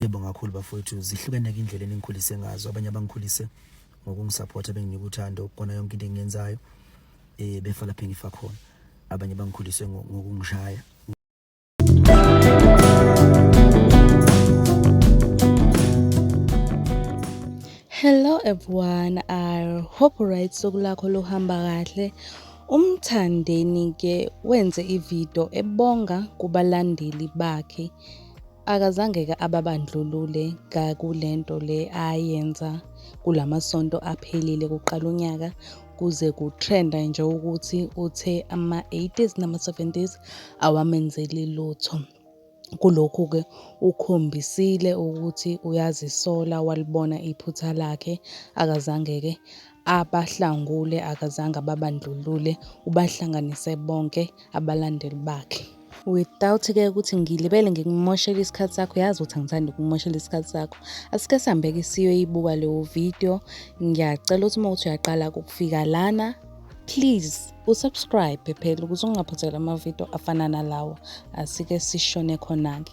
Yebo ngakhulu bafowethu zihlukene ke indlela eningikhulise ngazo abanye abangikhulise ngokungisupporta benginika uthando kona yonke into engiyenzayo eh befa lapha engifa khona abanye bangikhulise ngokungishaya Hello everyone I hope right sokulakho lohamba kahle umthandeni ke wenze ivideo ebonga kubalandeli bakhe Akazangeke ababandlulule kakulento le ayenza kulamasonto aphelile kuqala unyaka kuze kutrenda nje ukuthi uthe ama-80s nama-70s awamenzeli lutho. Kulokhu-ke ukhombisile ukuthi uyazisola walibona iphutha lakhe akazangeke abahlangule akazange ababandlulule ubahlanganise bonke abalandeli bakhe. without ke ukuthi ngilibele ngikumoshela isikhathi sakho yazi ukuthi angithandi ukumoshela isikhathi sakho asike sihambeke siyoyibuka leyo video ngiyacela ukuthi uma ukuthi uyaqala ukufika lana please usubscribe phela ukuze ungaphothela amavidiyo afana nalawa asike sishone khona-ke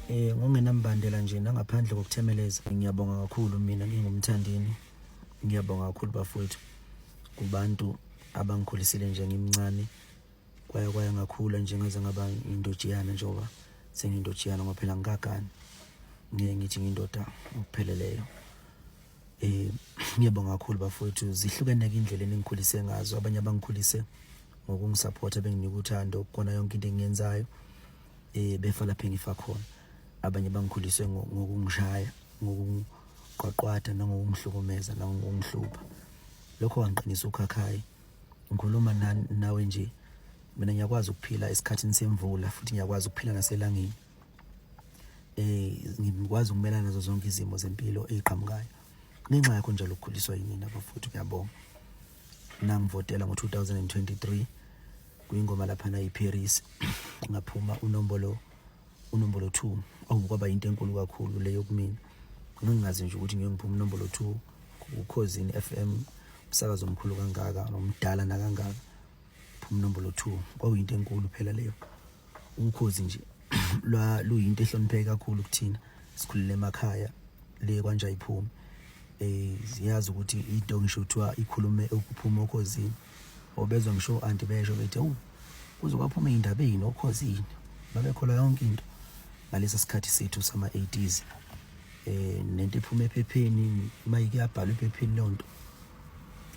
eh ngokungenambandela nje nangaphandle kokuthemeleza ngiyabonga kakhulu mina ngingumthandeni ngiyabonga kakhulu bafowethu kubantu abangikhulisile nje ngimncane kwaya kwaya ngakhula nje ngaze ngaba indojiyana njengoba sengindojiyana ngoba phela ngikagani ngeke ngithi ngindoda ngokupheleleyo eh ngiyabonga kakhulu bafowethu zihlukene ke indlela engikhulise ngazo abanye abangikhulise ngokungisupporta benginika uthando kona yonke into engiyenzayo eh befa lapha engifa khona abanye bangikhulise ngokungishaya ngokuqwaqwada nangokungihlukumeza nangokungihlupha lokho kwangiqinisa ukhakhayi Ngikhuluma nawe nje mina ngiyakwazi ukuphila esikhathini semvula futhi ngiyakwazi ukuphila naselangeni eh ngikwazi ukumelana nazo zonke izimo zempilo eziqhamukayo ngenxa yakho njalo ukukhuliswa yinina bafuthu ngiyabonga nangivotela ngo-2023 kwingoma laphana iParis ngaphuma unombolo unombolo 2 okukwaba into enkulu kakhulu leyo kumina ngingazi nje ukuthi ngiyokuphuma unombolo 2 ukhozini FM umsakazo omkhulu kangaka nomdala nakangaka phuma nombolo 2 kwakuyinto enkulu phela leyo ukhozi nje lwa luyinto ehlonipheke kakhulu kuthina sikhulele emakhaya le kwanje ayiphumi eh ziyazi ukuthi into ngisho kuthiwa ikhulume ukuphuma okhozini obezwa ngisho anti besho bethi awu kuzobaphuma indaba yini okhozini babekhola yonke into ngalesa sikhathi sethu sama 80s eh nento iphuma ephepheni uma ikuyabhala ephepheni lonto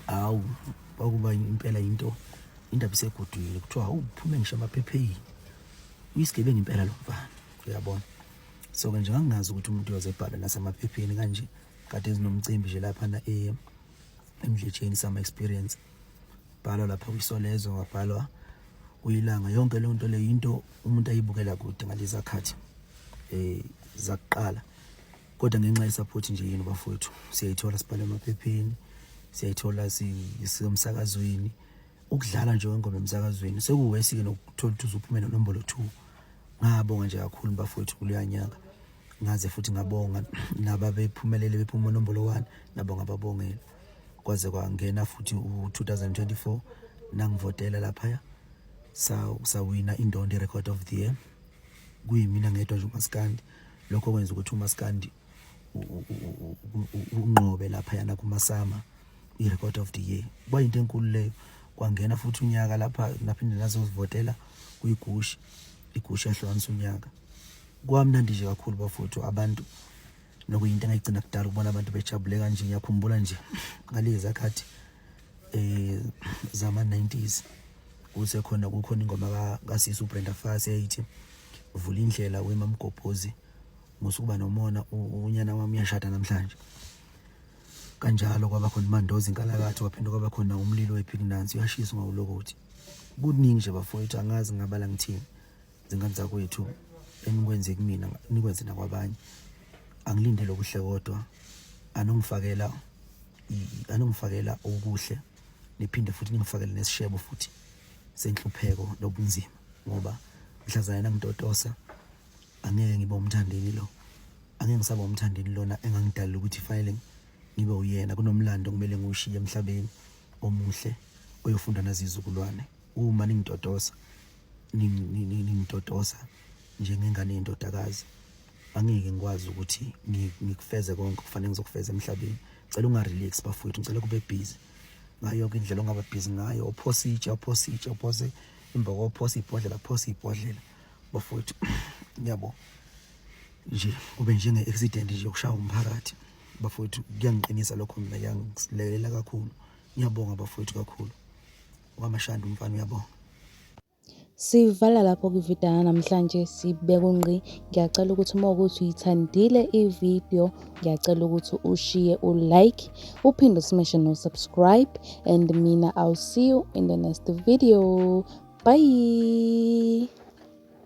awu kwakuba impela into indaba isegodwile kuthiwa awu phuma ngisho amaphepheni uyisigebengu impela lo mfana uyabona so ke nje ngangingazi ukuthi umuntu uyoze ebhala nasemaphepheni kanje kade ezinomcimbi nje lapha na eh emdletsheni sama experience bhalwa lapha kwisolezo wabhalwa uyilanga yonke leyo nto leyo into umuntu ayibukela kude ngalezi akhathi eh zakuqala kodwa ngenxa yesupport nje yini bafowethu siyayithola sibhala emaphepheni siyayithola sisemsakazweni ukudlala nje wengoma emsakazweni sekuwesi ke nokuthola ukuthi uzuphume nenombolo 2 ngabonga nje kakhulu bafowethu kuluyanyaka ngaze futhi ngabonga naba bephumelele bephuma nombolo 1 nabo ngababongela kwaze kwangena futhi u2024 nangivotela lapha ya sa sawina indondo record of the year kuyimina ngedwa nje umaskandi lokho kwenza ukuthi umaskandi unqobe lapha yana kumasama i-record of the year kwayinto enkulu leyo kwangena futhi unyaka lapha naphinde nazozivotela kuyigushi igushi yahlukanisa unyaka kwamnandi nje kakhulu bafuthu abantu nokuyinto engayigcina kudala ukubona abantu bejabule kanje ngiyakhumbula nje ngalezi zakhathi eh zama 90s kuse khona kukhona ingoma ka kasisi uBrenda Fassie eyithi vula indlela wemamgobhozi Musukuba nomona unyana wami uyashada namhlanje. Kanjalo kwaba khona imandozi inkalakatho kwaphinde kwaba khona umlilo wephiki nansi uyashiswa ngawulokothi. Kuningi nje bafowethu angazi ngabala ngithini. Zingane zakwethu enikwenze kumina nikwenze nakwabanye. Angilindele okuhle kodwa anongifakela anongifakela okuhle niphinde futhi ningifakele nesishebo futhi senhlupheko nobunzima ngoba mhlazana ngitotosa angeke ngibe umthandeni lo angeke ngisaba umthandeni lona engangidalela ukuthi fanele ngibe uyena kunomlando kumele ngiwushiye emhlabeni omuhle oyofunda nazizukulwane uma ningitotosa ningitotosa njengengane yendodakazi angeke ngikwazi ukuthi ngikufeze konke kufanele ngizokufeza emhlabeni cela ungarelax bafowethu ngicela kube busy ngayo yonke indlela ongaba busy ngayo ophositshe ophositshe ophose imboko ophose ibhodlela phose ibhodlela bafowethu ngiyabo nje kube njenge accident nje yokushaya umphakathi bafowethu kuyangiqinisa lokho mina kuyangilekelela kakhulu ngiyabonga bafowethu kakhulu wamashanda umfana uyabonga Sivala lapho kwivideo namhlanje sibekwe ngqi. Ngiyacela ukuthi uma ukuthi uyithandile ivideo ngiyacela ukuthi ushiye u-like uphinde usimeshe no-subscribe and mina i'll see you in the next video bye